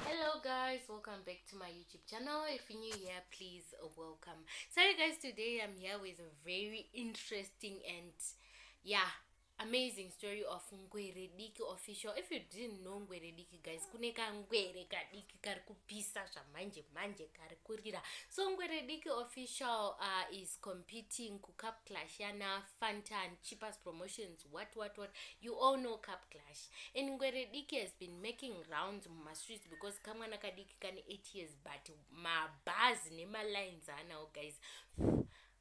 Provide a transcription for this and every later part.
hello guys welcome back to my youtube channel if you're new here please welcome so you guys today i'm here with a very interesting and yeah amazing story of ngwere diki official if you didn't know ngwere diki guys kune kangwere kadiki kari kupisa zvamanje manje kari kurira so ngwere diki official uh, is competing kucup clash yana fantan cheapest promotions what what what you all know cup clash and ngwere diki has been making rounds mumastreets because kamwana kadiki kane 8 years but mabhazi nemalines anawo guys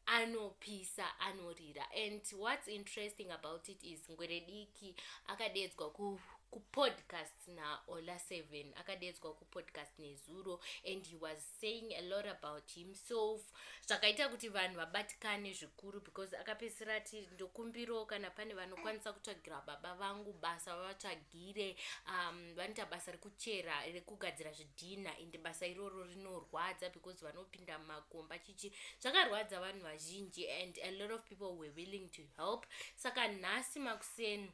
anopisa anorira and what's interesting about it is ngwere diki akadeedzwa ku kupodcast naola seven akadeedzwa kupodcast nezuro and he was saying a lot about himself zvakaita kuti vanhu vabatikane zvikuru because akapedzisira ati ndokumbiro kana pane vanokwanisa kutsvagira baba vangu basa vavatsvagire um, vanoita basa rekuchera rekugadzira zvidhinha ende basa iroro rinorwadza because vanopinda mumakomba chichi zvakarwadza vanhu vazhinji and a lot of people were willing to help saka nhasi makuseni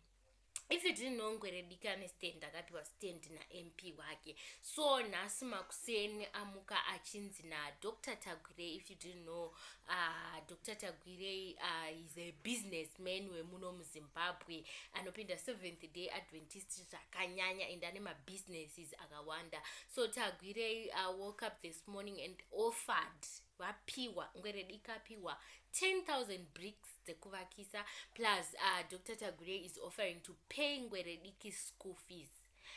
if you didn't know ngwerediki ane stand akapiwa stand namp wake so nhasi makuseni amuka achinzi nadr tagwirei if you didn't know uh, dr tagwirei uh, is a business man wemuno muzimbabwe anopinda seventh day adventist zvakanyanya and ane mabusinesses akawanda so tagwirei uh, woke up this morning and offered vapiwa ngwerediki apiwa 10000 bricks dzekuvakisa plus uh, dr tagure is offering to pay ngwerediki school fees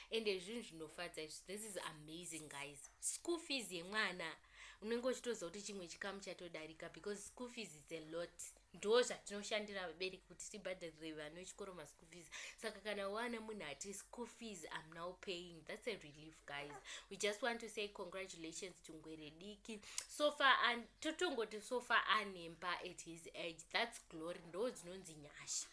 ende zvinhu zvinofadza izvi this is amazing guys school fees yemwana unenge uchitoziva kuti chimwe chikamu chatodarika because school fees is a lot ndo zvatinoshandira vabereki kuti tibhadharire vana vechikoro maschool fees saka kana wana munhu ati school fees am now paying that's a relief guys we just want to say congratulations to ngwere diki so far and totongoti so far anemba at his age that's glory ndo dzinonzi nyasha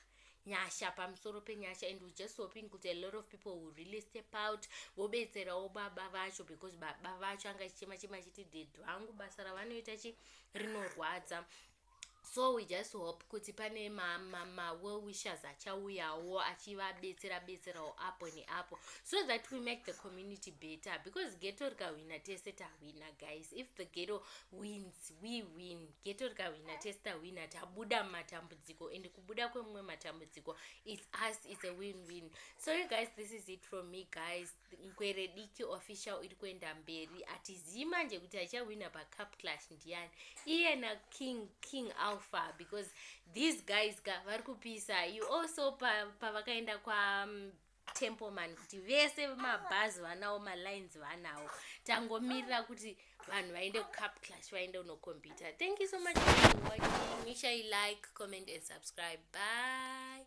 nyasha pamusoro penyasha and we just hoping kuti a lot of people will really step out vobetserawo baba vacho because baba vacho anga chichema chema chiti ded vangu basa ravanoita chi rinorwadza so we just hope kuti pane mawellwishers achauyawo achivabetsera betserawo apo neapo so that we make the community better because geto rikahwina tese tahwina guys if the geto wins we win geto rikahwina tese tahwina tabuda mumatambudziko and kubuda kwemumwe matambudziko its us its a win win so you guys this is it from me guys nkwerediki official iri kuenda mberi atizii manje kuti achawina pacup clash ndiyani iye naking king alpha because these guys ka vari kupisa you also pavakaenda pa kwa um, templeman kuti vese mabhazi vanawo malines vanawo tangomirira kuti vanhu vaende kucup clash vaende unokompyuta thank you so much for watching make sure you like comment and subscribe bye